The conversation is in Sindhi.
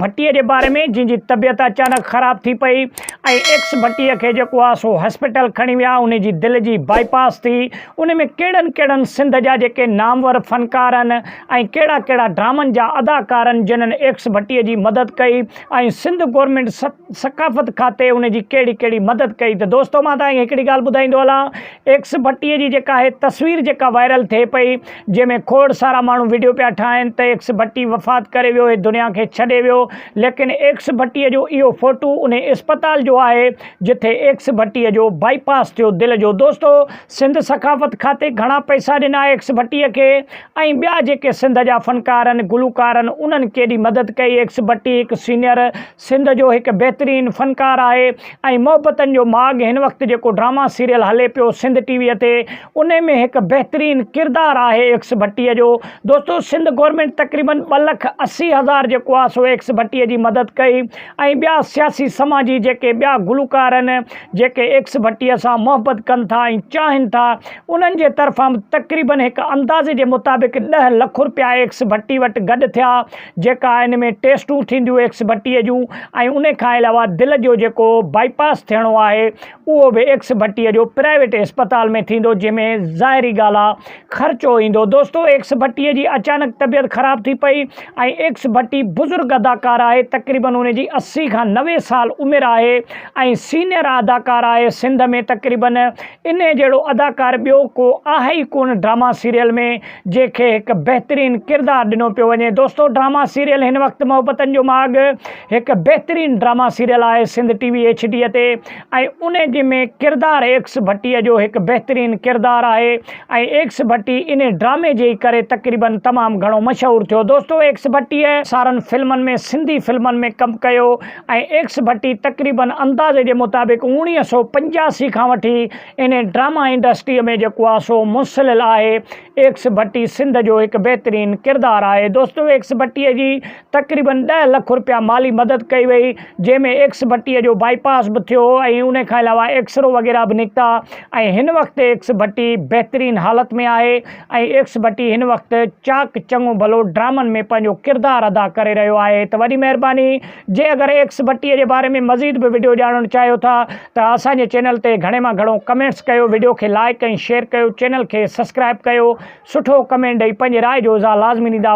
ڀٽي جي باري ۾ جنهن جي طبيعت اچانڪ خراب ٿي پئي ۽ ايڪس ڀٽي کي جيڪو آ سو هاسپيٽل کڻي ويا انهي جي دل جي بائي پاس ٿي انهي ۾ ڪهڙن ڪهڙن سنڌ جا جيڪي نامور فنڪارن ۽ ڪهڙا ڪهڙا ڊرامن جا اداڪارن جنهن ايڪس ڀٽي جي مدد ڪئي ۽ سنڌ گورنمينٽ ثقافت کاتي انهي جي ڪهڙي ڪهڙي مدد ڪئي ته دوستو مان تهان کي هڪڙي ڳالهه ٻڌائيندو هلان ايڪس ڀٽي جي جيڪا هي تصوير جيڪا وائرل ٿئي پئي جنهن ۾ کوڙ سارا ماڻهو وڊيو پيا ٺاهن ته ايڪس ڀٽي وفات ڪري ويو هي دنيا کي ڇڏي ويو ليڪن ايڪس ڀٽي جو اهو فوٽو انهي اسپتال جو آهي جٿي ايڪس ڀٽي جو بائي پاس ٿيو دل جو دوستو سنڌ ثقافت کاتي گهڻا پئسا ڏنا ايڪس ڀٽي کي ۽ ٻيا جيڪي سنڌ جا فنڪارن گلوڪارن انهن ڪيڏي مدد ڪئي ايڪس ڀٽي هڪ سينيئر سنڌ جو هڪ بهترين فنڪار آهي ۽ محبتن جو ماڳ هن وقت جيڪو ڊراما سيريل هلي پيو سنڌ ٽي وي تي انهي ۾ هڪ بهترين ڪردار آهي ايڪس ڀٽي جو دوستو سنڌ گورنمينٽ تقريبن ٻه لک اسي هزار جيڪو آهي سو ايڪس ڀٽي جي مدد ڪئي ۽ ٻيا سياسي سماجي جيڪي ٻيا گلوڪار آهن جيڪي ايڪس ڀٽي سان محبت ڪن ٿا ۽ چاهن ٿا انهن جي طرفان به تقريبن هڪ اندازي جي مطابق ڏهه لک رپيا ايڪس ڀٽي وٽ گڏ ٿيا جيڪا ان ۾ ٽيسٽون ٿينديون ايڪس ڀٽي جون ۽ ان کان علاوه دل جو جيڪو بائي پاس ٿيڻو آهي اهو به ايڪس ڀٽي جو پرائيويٽ اسپتال ۾ ٿيندو جنهن ۾ ظاهري ڳالهه آهي خرچو ايندو دوستو ايڪس ڀٽي جي اچانڪ طبيعت خراب ٿي پئي ۽ ايڪس ڀٽي بزرگ اداڪار آهي تقريبن ان جي اسي کان نوي سال عمر آهي ۽ سينئر اداڪار آهي سنڌ ۾ تقريبن انهي جهڙو اداڪار ٻيو ڪو آهي ئي ڪونه ڊراما سيريل ۾ جنهن کي هڪ بهترين ڪردار ڏنو پيو وڃي دوستو ڊراما سيريل هن وقت محبتن جو ماڳ هڪ بهترين ڊراما سيريل آهي Sindh T V H D تي ۽ ان جي ۾ ڪردار ايڪس ڀٽي جو هڪ بهترين ڪردار آهي ۽ ايڪس ڀٽي ان ڊرامي جي ئي ڪري تقريبا تمام گهڻو مشهور ٿيو دوستو ايڪس ڀٽي سارن فلمن ۾ سنڌي فلمن ۾ ڪم ڪيو ۽ ايڪس ڀٽي تقريبا اندازي جي مطابق اوڻيهه سو پنجاسي کان وٺي ان ڊراما انڊسٽريء ۾ جيڪو آ سو منسلل آهي. ايڪس ڀٽي سنڌ جو هڪ بهترين ڪردار آهي. دوستو ايڪس ڀٽي جي تقريبن ڏهه لک رپيا مالي مدد ڪئي وئي جنهن ۾ ايڪس ڀٽي جو بائي پاس به ٿيو ۽ ان کان علاوه ايڪسرو وغيره به نڪتا ۽ هن وقت ايڪس ڀٽي بهترين حالت ۾ آهي ۽ ايڪس ڀٽي هن وقت چاڪ چڱو ڀلو ڊرامن ۾ پنهنجو ڪردار ادا ڪري رهيو آهي ته وڏي مهرباني جي اگر ايڪس بٽي جي باري ۾ مزيد به وڊيو ڄاڻڻ چاهيو ٿا ته اسان جي چينل تي گهڻي مان گهڻو ڪمينٽس ڪيو وڊيو کي لائيڪ ۽ شيئر ڪيو چينل کي سسڪرائب ڪيو سٺو ڪمينٽ ڏئي پنهنجي راء جو اظهار لازمي ڏيندا